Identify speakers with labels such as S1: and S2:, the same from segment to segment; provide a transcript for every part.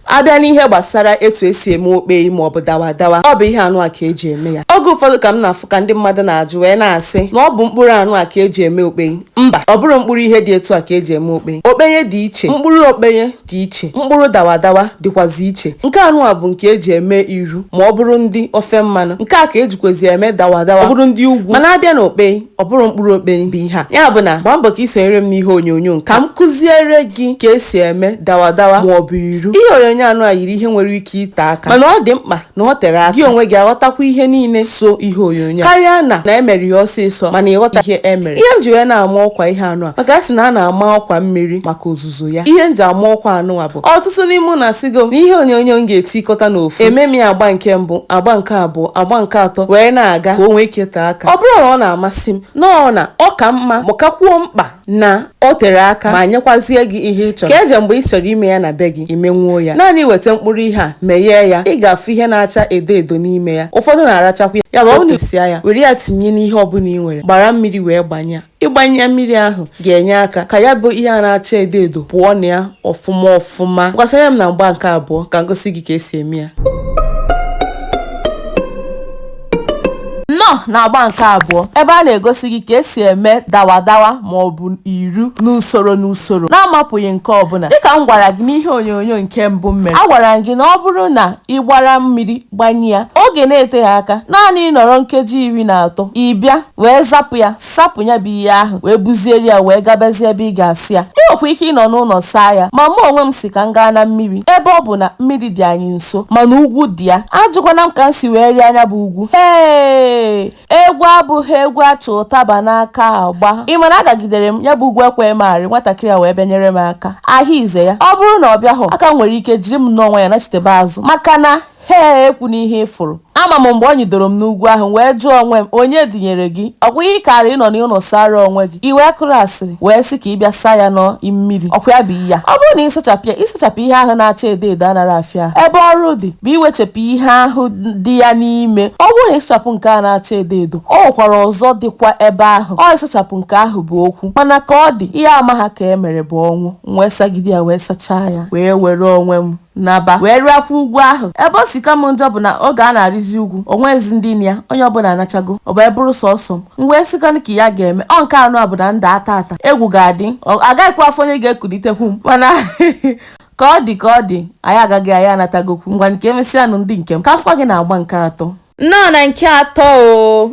S1: abịa n'ihe gbasara etu esi eme okpeyi maọbụ dawa dawa ọ bụ ihe anụ a ka eji eme ya oge ụfọdụ ka m na-afụ ka ndị mmadụ na-ajụ wee na-asị na ọ bụ mkpụrụ anụ a ka eji eme okpeyi mba ọ bụrọ mkpụrụ ihe dị etu a ka eji eme okpeyi okpenye dị iche mkpụrụ okpenye dị iche mkpụrụ dawa dawa dịkwazi iche nke anụ a bụ nke eji eme iru ma ọ bụrụ ndị ofe mmanụ nke a ka ejikwazi eme dawa dawa ọ bụrụ ndị ugwu mana abịa na okpeyi ọ bụrọ mkpụrụ okpei bụ ihe a ya bụ na gbaa mbọ ka ị sonyere m n'ihe onyonyo nke ka m kụziere gị ka esi eme dawa dawa ma ọ bụ iru ihe onyonyo anụ a yiri ihe nwere ike ite aka mana ọ dị mkpa na ọ tere aka gị onwe gị aghọtakwa ihe niile so ihe onyonyo karịa na na emere ya ọsịsọ mana ịghọta ihe emere ihe m ji wee na-ama ọkwa ihe anụ a maka a sị na a na-ama ọkwa mmiri maka ozuzo ozuzo ya ihe m ji ama ọkwa anụwa bụ ọtụtụ n'ime ụnụ asịgo m na ihe onyonyo m ga-etikọta n'ofu eme m ya agba nke mbụ agba nke abụọ agba nke atọ wee na-aga ka o nwee ike tee aka ọ bụrọ na ọ na-amasị m nnọọ na ọ ka mma ma kakwuo mkpa na o tere aka ma nyekwazie gị ihe ị chọrọ ka eje mgbe ị chọrọ ime ya na be gị imenwuo ya naanị weta mkpụrụ ihe a meghee ya ị ga-afụ ihe na-acha edo edo n'ime ya ụfọdụ na-arachakwa ya ya bụ ọ na-esia ya were ya tinye n'ihe ọbụla ị nwere gbara mmiri wee gbanye ya Ịgbanye ya mmiri ahụ ga-enye aka ka ya bụ ihe a na-acha edo edo pụọ na ya ọfụma ọfụma. Ngwa soro m na agba nke abụọ ka m gosi gị ka esi eme ya. Nnọọ na agba nke abụọ ebe a na-egosi gị ka esi eme dawadawa ma ọ bụ iru n'usoro n'usoro na-amapụghị nke ọbụla. Dịka m gwara gị n'ihe onyonyo nke mbụ m mere, agwara m gị na ọ bụrụ na ị gbara mmiri gbanye ya, oge na-eteghị aka, naanị ịnọrọ nkeji iri na atọ, ị bịa wee zapụ ya sapụ ya bụ ihe ahụ wee buziere ya wee gabazie ebe ị ga-asa ya ị nwekwa ike ịnọ n'ụlọ saa ya ma mụ onwe m sị ka m gaa na mmiri ebe ọ bụ na mmiri dị anyị nso mana ugwu dị ya ajụkwana m ka m si wee rịa nya bụ ugwu ee egwu abụghị egwu achị ụtaba n'aka agba ị ma na agagidere m ya bụ ugwu ekweghị m arị nwatakịrị a wee bịanyere m aka ahịa ize ya ọ bụrụ na ọ bịahụ aka nwere ike jiri m n'onwe ya nachitebe azụ maka na Hee ekwuna ihe ị fụrụ. Ama m mgbe o nyidoro m n'ugwu ahụ, wee jụọ onwe m, Onye dunyere gị? Ọkwa ihe ị kaara ịnọ n'ụlọ sara onwe gị, i wee kụrụ asịrị, wee sị ka ị bịa saa ya na mmiri. Ọkwa ya bụ iyi a. Ọ bụrụ na ị sachapụ ya, ịsachapụ ihe ahụ na-acha edo edo anarọ afịa ahụ. Ebe ọrụ dị bụ iwechapụ ihe ahụ dị ya n'ime. Ọ bụrụ na ịsachapụ nke a na-acha edo edo, o nwekwara ọzọ dịkwa ebe ahụ. Ọ ịsachapụ nke ahụ bụ okwu. Mana ka ọ dị, ihe amaha ka e mere bụ ọnwụ. M wee sagide ya wee sachaa ya, wee were onwe m. naba wee rịakwa ugwu ahụ. Ebe o si ka m njọ bụ na oge a na-arịzi ugwu, o nweghịzi ndị nọ ya, onye ọbụla anachago, o wee bụrụ sọọsọ m. M wee sịkwanụ ka ihe a ga-eme, ọ nke anụ a bụ na m daa taata, egwu ga-adị, agaghịkwa afụ onye ga-ekulitekwu m. Mana ka ọ dị ka ọ dị, anyị agago, anyị anatagokwu. Ngwanụ ka emesịanụ ndị nke m, ka afụkwa gị na agba nke atọ. nnọọ na nke atọ o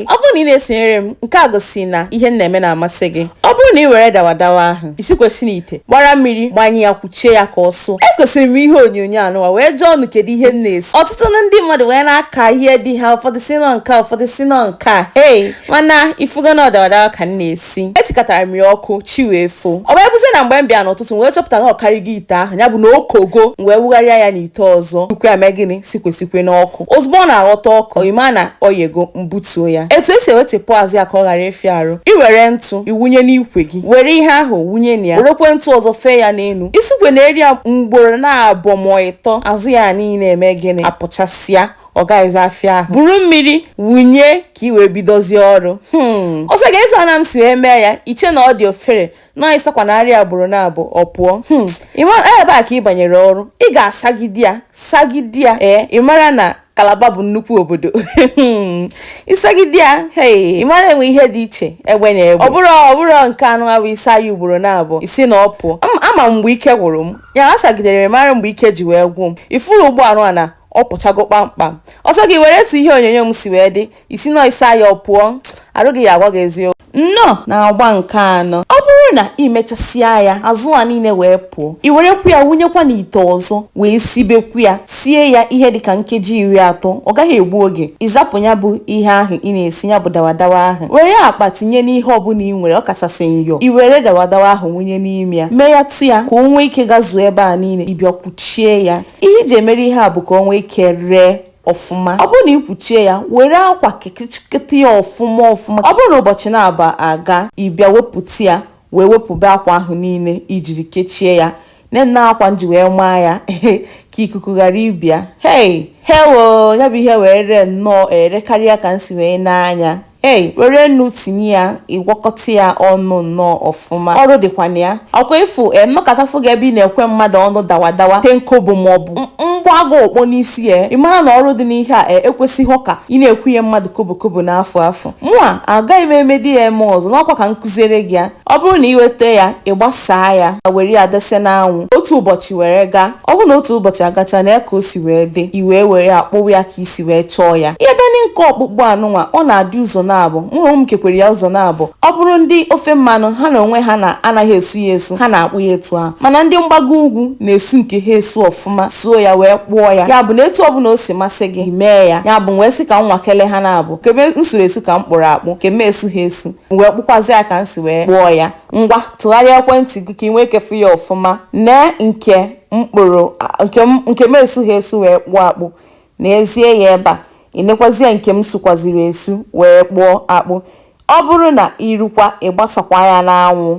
S1: ọ bụrụ na ị na-esonyere m nke a gosi na ihe m na-eme na-amasị gị ọ bụrụ na ị were dawadawa ahụ isikwesị n'ite gbara mmiri gbanye ya kwuchie ya ka ọ sụọ egosiri m ihe onyonyo anụwa wee jụọ unu kedu ihe m na-esi ọtụtụ na ndị mmadụ wee na-aka ihe dị ha ụfọdụ sị na ọ nke a, ụfọdụ sị na ọ nke a hei mana ifugo na ọ dawadawa ka m na-esi etikatara m ya ọkụ chi wee foo ọ wee bụzie na mgbe m bịa n'ụtụtụ m wee chọpụta na ọ karịgo ite ahụ ya bụ na o kogo m wee wugharịa ya n'ite ọzọ bukwu ya mee gịnị sikwesikwe n'ọkụ ozugbo ọ na-aghọta ọkụ o yi m na o yego m butuo ya etu e si ewechepụ azụ ya ka ọ ghara ịfịa arụ ị were ntụ i wụnye n'ikwe gị were ihe ahụ wụnye na ya werekwe ntụ ọzọ fee ya n'elu isikwe na eri ya mgboro naabọ ma ịtọ azụ ya niile eme gịnị apụchasịa ọ gaghịzi afịa ahụ buru mmiri wụnye ka i wee bidozie ọrụ hmm. ọ sọ gị eze ana m si wee mee ya i chee na ọ dị ofere na ị sakwa na arịa ugboro naabọ ọ pụọ hmm. ebe a ka ị banyere ọrụ ị ga-asagide ya sagide ya ee ị mara na kalaba bụ nnukwu obodo hmm. ị sagide ya ị mara e nwe ihe dị iche egbe na egbe ọ bụrọ ọ bụrọ nke a na-abụ ị sa ya ugboro naabọ ị sị na ọ pụọ ama mgbe ike gwụrụ m ya asagidere m mara mgbe ike ji wee gwụ m ị fụrụ ugbu anụ a na ọ pụchago kpamkpam ọ sọ gị were etu ihe onyonyo m si wee dị ị sị na ọ ị sa ya ọ pụọ arụ gị ya agwa gị eziokwu nnọọ na agba nke anọ ọ bụrụ na ị mechasịa ya azụ a niile wee pụọ i werekwu ya wụnyekwa n'ite ọzọ wee sibekwu ya sie ya ihe dịka nkeji iri atọ ọ gaghị egbu oge ị zapụ ya bụ ihe ahụ ị na-esi ya bụ dawadawa ahụ were akpa tinye n'ihe ọbụla ị nwere ọ kachasị nyọ i were dawadawa ahụ wụnye n'ime ya mee ya tụ ya ka o nwee ike gazuo ebe a niile ị bịa kwuchie ya ihe e ji emere ihe a bụ ka o nwee ike ree ọfụma ọ bụrụ na i kwuchie ya were akwa kekechiketa ya ọfụma ọfụma ọ bụrụ na ụbọchị naabọ agaa ị bịa wepụta ya wee wepụba akwa ahụ niile i jiri kechie ya nee akwa m ji wee maa ya ka ikuku ghara ịba ya hei hewo ya bụ ihe wee ree nnọọ ere karịa ka m si wee nee anya Hey, were nnu tinye ya ị gwakọta ya ọnụ nnọọ ọfụma ọrụ dịkwa na ya ọkwa ịfụ m mekata fụ gị ebe ị na-ekwe mmadụ ọnụ dawadawa ten kobo maọbụ m gbaa gị okpo n'isi ya ị mara na ọrụ dị n'ihe a e, ekwesịghị ka ị na-akwụnye mmadụ kobo kobo n'afịa afụ mụa agaghị m emedi ya eme ọzọ na ọkwa ka m kụziere gị ya ọ bụrụ na ị weta ya ị gbasaa ya ma were ya dese n'anwụ otu ụbọchị were gaa ọ bụrụ na otu ụbọchị agacha nee ya ka o si wee dị i wee were ya kpụwa ya ka i si wee chọọ ya ihe bụ na nke ọkpụkpụ anụnwa ọ na-adị ụzọ naabọ mụ na onwe m kekwara ya ụzọ naabọ ọ bụrụ ndị ofe mmanụ ha na onwe ha na anaghị esu ya esu ha na-akpụ ya etu ahụ mana ndị mgbago ugwu na-esu nke ha esu ọfụma suo ya wee kpụọ ya ya bụ na etu ọbụla o si masị gị mee ya ya bụ wee sị ka m nwakele ha naabọ kebe m suru esu ka m kpụrụ akpụ ke m esughị esu m wee kpụkwazi ya ka m si wee kpụọ ya ngwa tụgharịa ekwentị gị ka ị nwee ike fụ ya ọfụma nee nke mkpụrụ nke m esughị esu wee kpụọ akpụ neezie ya ebe a i nekwazie nke m sukwaziri esu wee kpụọ akpụ ọ bụrụ na i rukwa ị gbasakwa ya n'anwụ